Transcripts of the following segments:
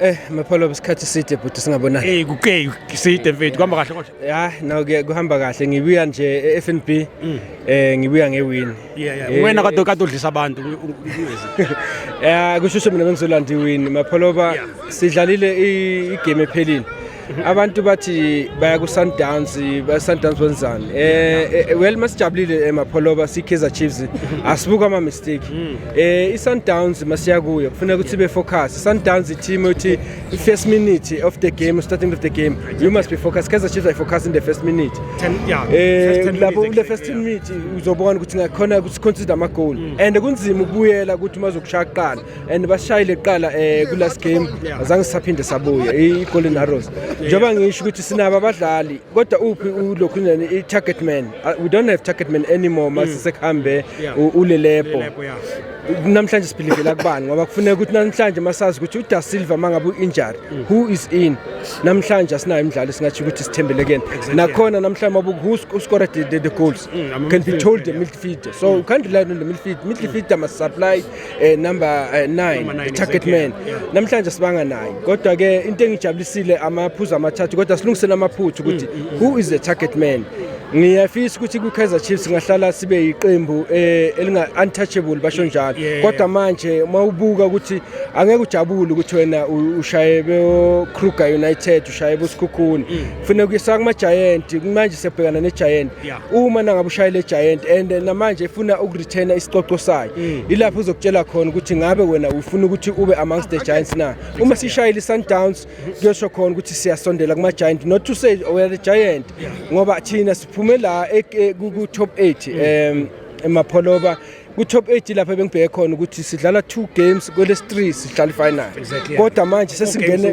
Eh mapholo isikhathi side bhuti singabonani. Eh kuke side mfethu kuhamba kahle kodwa. Ya no kuhamba kahle ngibuya nje eFNB mm. eh ngibuya ngewin. Yeah yeah. Eh, Wena kade kade udlisa abantu. Eh kushushe mina bengizolanda iwin mapholo ba sidlalile igame ephelile. abantu bathi baya ku-sundowns ba-sundowns benzani um eh, eh, well masijabulile emapholoba eh, siyi-kaizer chiefs asibuka ama-mistake um i-sundowns masiya kuyo kufuneka ukuthi ibe focus i-sundowns i-team ukuthi i-first minute of the game starting of the game you must be focus kaizer chiefs ayifocus in the first minute lapho kule first ten minute uzobona ukuthi ngakhona ukuthi consider ama-goal mm. and kunzima ukubuyela ukuthi umazokushaya kuqala and basishayile kuqala eh kulast game azange sisaphinde sabuya i-golden arrows njengoba ngisho ukuthi sinabo abadlali kodwa uphi ulokhu nani i-target man uh, we don't have target man anymore mase mm. sekuhambe ulelepo namhlanje siphilivela kubani ngoba kufuneka ukuthi namhlanje masazi ukuthi uDa Silva mangabe uinjury mm. who is in namhlanje asinayo imidlalo singathi ukuthi sithembele kuyena nakhona namhlanje mabu who score the, the, the goals mm, can be told the midfielder so mm. you can't rely on the midfielder midfielder must supply eh number 9 eh, uh, target man namhlanje sibanga naye kodwa ke into engijabulisile amaphuzu amathathu kodwa silungisele amaphuthu ukuthi mm, mm, mm. who is the target man ngiyafisa ukuthi kwi-kaizer chiefs ngahlala sibe yiqembu eh, elinga-untouchable basho njalo kodwa manje uma ubuka ukuthi angeke ujabule ukuthi wena ushaye bo-kruger united ushaye bosikhukhuni mm. kufuneka uyisa kumajayenti manje siyabhekana nejayenti Yeah. Uma nangabe ushayile Giant and eh, namanje ifuna ukureturna isicoco sayo. Mm. Ilapho uzokutshela khona ukuthi ngabe wena ufuna ukuthi ube amongst the Giants na. Uma sishayile Sundowns kuyosho khona ukuthi siyasondela kuma Giant not to say oh, we are the Giant ngoba thina siphume la eh, eh, ku top 8 mm. em emapholoba mm. ku-top 8 lapho ebengibheke khona ukuthi sidlala two games kwelesi three sidlala ifinal kodwa manje sesingene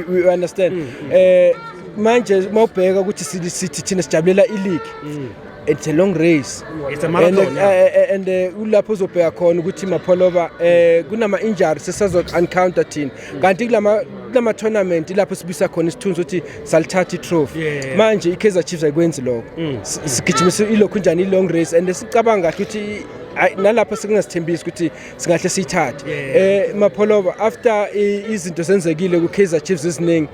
we understand mm, mm. eh manje uma ubheka ukuthi sithi thina sijabulela ileague mm. it's a long race it's a marathon and, yeah. Eh, eh, and eh, ulapho uzobheka khona ukuthi mapholoba eh kunama injuries sesazo encounter thina kanti kulama kulama tournament lapho sibisa khona isithunzi ukuthi salithatha itrophy yeah. manje iKaizer Chiefs ayikwenzi lokho mm. sigijimisa ilokhu njani ilong race and sicabanga kahle ukuthi nalapho sekungasithembisi ukuthi singahle siyithathe eh mapholova after izinto senzekile ku Kaizer Chiefs eziningi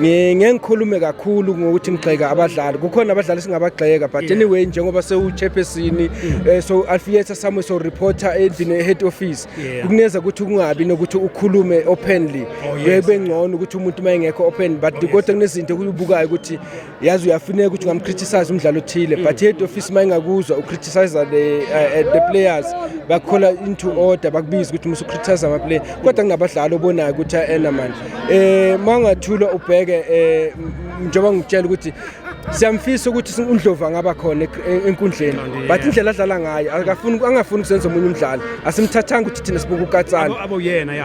mm. ngengikhulume kakhulu ngokuthi ngigxeka abadlali kukhona abadlali singabagxeka but anyway njengoba sewuchairperson mm. eh, so Alfieta Samuel so reporter endlini head office Yeah. Kuneza ukuthi kungabi nokuthi ukhulume openly. Oh, yes. Bengcono ukuthi umuntu uma engekho open but oh, kodwa kunezinto okubukayo ukuthi yazi uyafuneka ukuthi ungamcriticize umdlalo othile mm. but head office uma engakuzwa ucriticize the uh, the players bakhola into order bakubiza ukuthi musu criticize ama player kodwa kunabadlali obonayo ukuthi ayena manje eh mangathula ubheke eh njengoba ngitshela ukuthi siyamfisa ukuthi undlovu angaba khona enkundleni but indlela adlala ngayo akafuni angafuni ukuzenza omunye umdlalo asimthathanga ukuthi thina sibuka ukatsane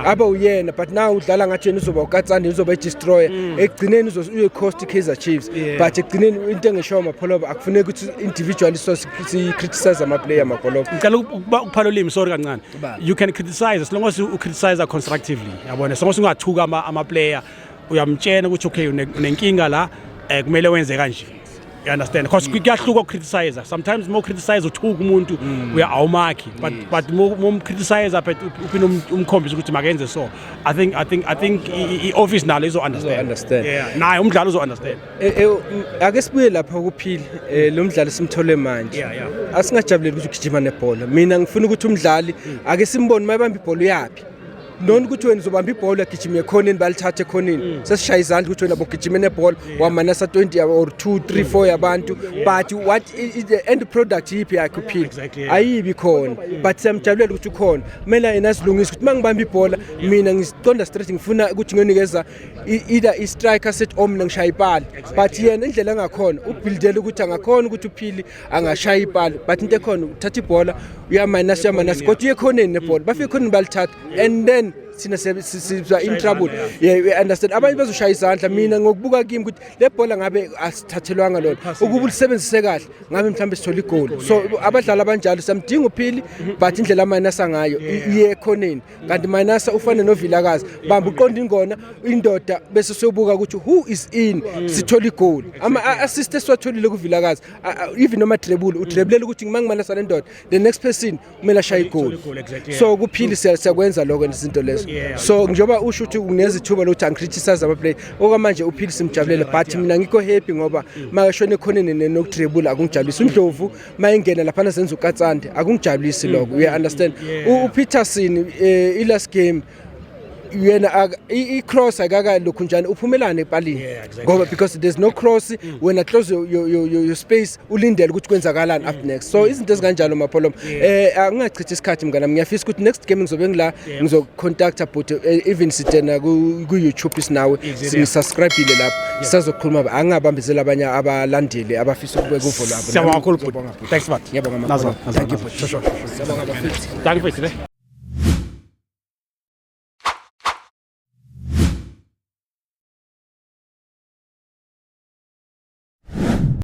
abe uyena but now udlala ngathi yena uzoba ukatsane uzoba i-destroyer mm. ekugcineni uyoyicost i-kaizer chiefs but ekugcineni into engishoyo mapholoba akufuneki ukuthi individually so si-criticize amaplayer mapholoba ngicela ukuphala ulimi sorry kancane you can criticize as long as you criticize constructively yabona as long as ungathuka amaplayer uyamtshena ukuthi okay unenkinga la eh kumele wenze kanje you understand because mm. kuyahluka ukukriticize sometimes more criticize uthuka umuntu mm. uya awumakhi but mm. but mom criticize but uphina um, umkhombisa ukuthi makenze so i think i think i think i office nalo izo understand understand yeah naye umdlalo uzo understand eh, eh, ake sibuye lapha ukuphila eh, lo mdlali simthole manje asingajabuleli ukuthi ugijima nebhola mina ngifuna ukuthi umdlali ake simbone mayibamba ibhola uyapi noni ukuthi wena uzobamba ibhola agijime ekhoneni balithathe ekhoneni mm. sesishaya izandla ukuthi wena bogijime nebhola wamanasa 20 or 2 3 4 yabantu but what is the end product yiphi yakhe uphila ayibi khona mm. but siyamjabulela ukuthi ukhona kumele yena asilungise ukuthi uma ngibamba ibhola mina ngiziqonda straight ngifuna ukuthi ngiyonikeza either i-striker set om nangishaya ipala but yena indlela engakhona ubuildele ukuthi angakhona ukuthi uphili angashaya ipali but into ekhona uthatha ibhola uyaminus uyaminus kodwa uyekhoneni nebhola bafike khoneni balithatha and then thina siba in trouble yeah we understand abanye bezoshaya izandla mina ngokubuka kimi ukuthi le bhola ngabe asithathelwanga lona ukuba ulisebenzise kahle ngabe mhlawumbe sithola igoli so abadlali abanjalo samdinga uphili but indlela amayinasa ngayo iye ekhoneni kanti manasa ufane novilakazi bamba uqonda ingona indoda bese sobuka ukuthi who is in sithola igoal ama assist esiwatholile kuvilakazi even noma trebule utrebulela ukuthi ngimangimanasa le ndoda the next person kumele ashaye igoal so kuphili siyakwenza lokho izinto lezo so njengoba usho ukuthi unezithuba lokuthi angicriticize ama play okwamanje uphili simjabulele but mina ngikho happy ngoba makashone ekhoneni nokutrebula akungijabulisi undlovu mayengena laphana senza ukatsande akungijabulisi mm, lokho uya mm, understand mm, upeterson eh, i-last game yena i-cross akaka lokhu njani uphumelane epalini ngoba because there's no cross mm. wena close your, your, your, your space ulindele ukuthi kwenzakalani up mm. next so mm. izinto ezikanjalo mapholomo eh angingachithi isikhathi mnganami ngiyafisa ukuthi next game ngizobe ngila ngizokucontacta bhuti eh, even sitena ku-youtube sinawe singisubscribile lapho sisazokhuluma angingabambezeli abanye abalandeli abafisa ukubeka uvo lwabo